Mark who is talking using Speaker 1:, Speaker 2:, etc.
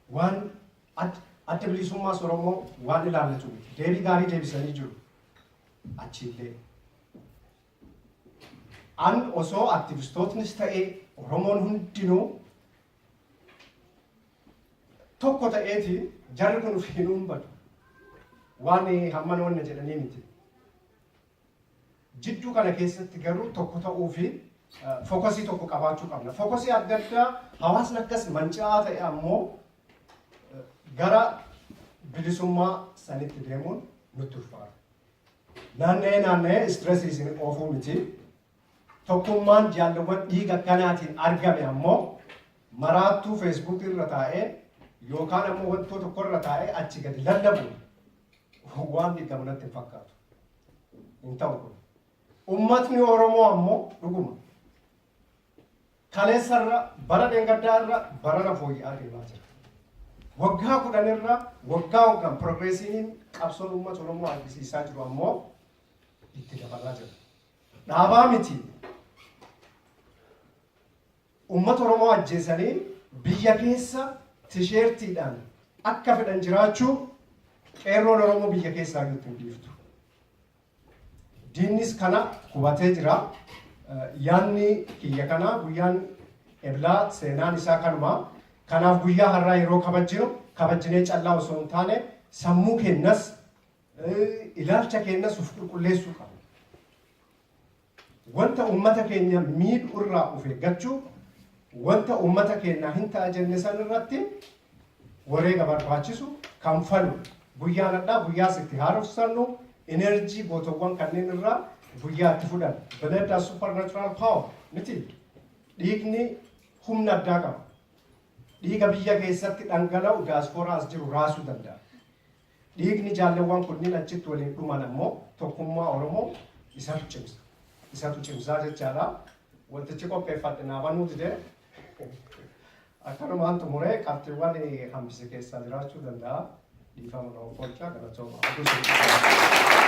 Speaker 1: Waan Adda Bilisummaas Oromoo waan ilaallatu miti. Deebii gaarii deebisanii jiru. Achiillee. An osoo aktivistootnis ta'ee Oromoon hundinuu tokko ta'eeti jarri kun of hin uummatu. Waan hamman wanna jedhanii miti. Jidduu kana keessatti garuu tokko ta'uu fi fokasii tokko qabaachuu qabna. Fokasii adda addaa hawaasni akkas manca'aa ta'e ammoo gara bilisummaa sanitti deemuun nutti ulfaata. Naanna'ee naanna'ee istiresii isin oofuu miti. Tokkummaan jaalluwwan dhiiga akkanaatiin argame ammoo maraattuu Facebook irra taa'ee yookaan ammoo wantoo tokko irra taa'ee achi gadi lallabuun waan diigamu natti hin fakkaatu. Hin ta'u kun. Uummatni Oromoo ammoo dhuguma kaleessa irra bara dheengaddaa irra barana fooyya'aa deemaa jira. Waggaa kudhan irra waggaa waggaan piroogreesiin qabsoon uummata Oromoo argisiisaa jiru ammoo itti dabalaa jira. Dhaabaa miti. Uummata Oromoo ajjeesanii biyya keessa tisheertiidhaan akka fedhan jiraachuu qeerroon Oromoo biyya keessaa iyyuu itti hin dhiiftu. Diinnis kana hubatee jira. Yaanni kiyya kanaa guyyaan eblaa seenaan isaa kanuma. Kanaaf guyyaa har'aa yeroo kabajjinu kabajjinee callaa osoo hin taane sammuu keenyas ilaalcha keenyas of qulqulleessuu qabna. Wanta uummata keenya miidhu irraa of eeggachuu, wanta uummata keenyaa hin ta'a jenne san irratti wareega barbaachisu kanfalu. Guyyaa nadhaa guyyaas itti haarofsannu enerjii gootowwan kanneen irraa guyyaa itti fudhannu. Blood has supernatural power miti. Dhiigni humna addaa qaba. Dhiiga biyya keessatti dhangala'u daasporaa as jiru raasuu danda'a. Dhiigni jaalleewwan kunniin achitti waliin dhuman ammoo tokkummaa Oromoo isatu cimsa. Isatu cimsaa jechaadha. Wantichi qopheeffadhe naa banuu dide. Akkanumaan xumuree qabxiiwwan hambise keessaa jiraachuu danda'a. Dhiifama na offolchaa galatooma. Oduu sun.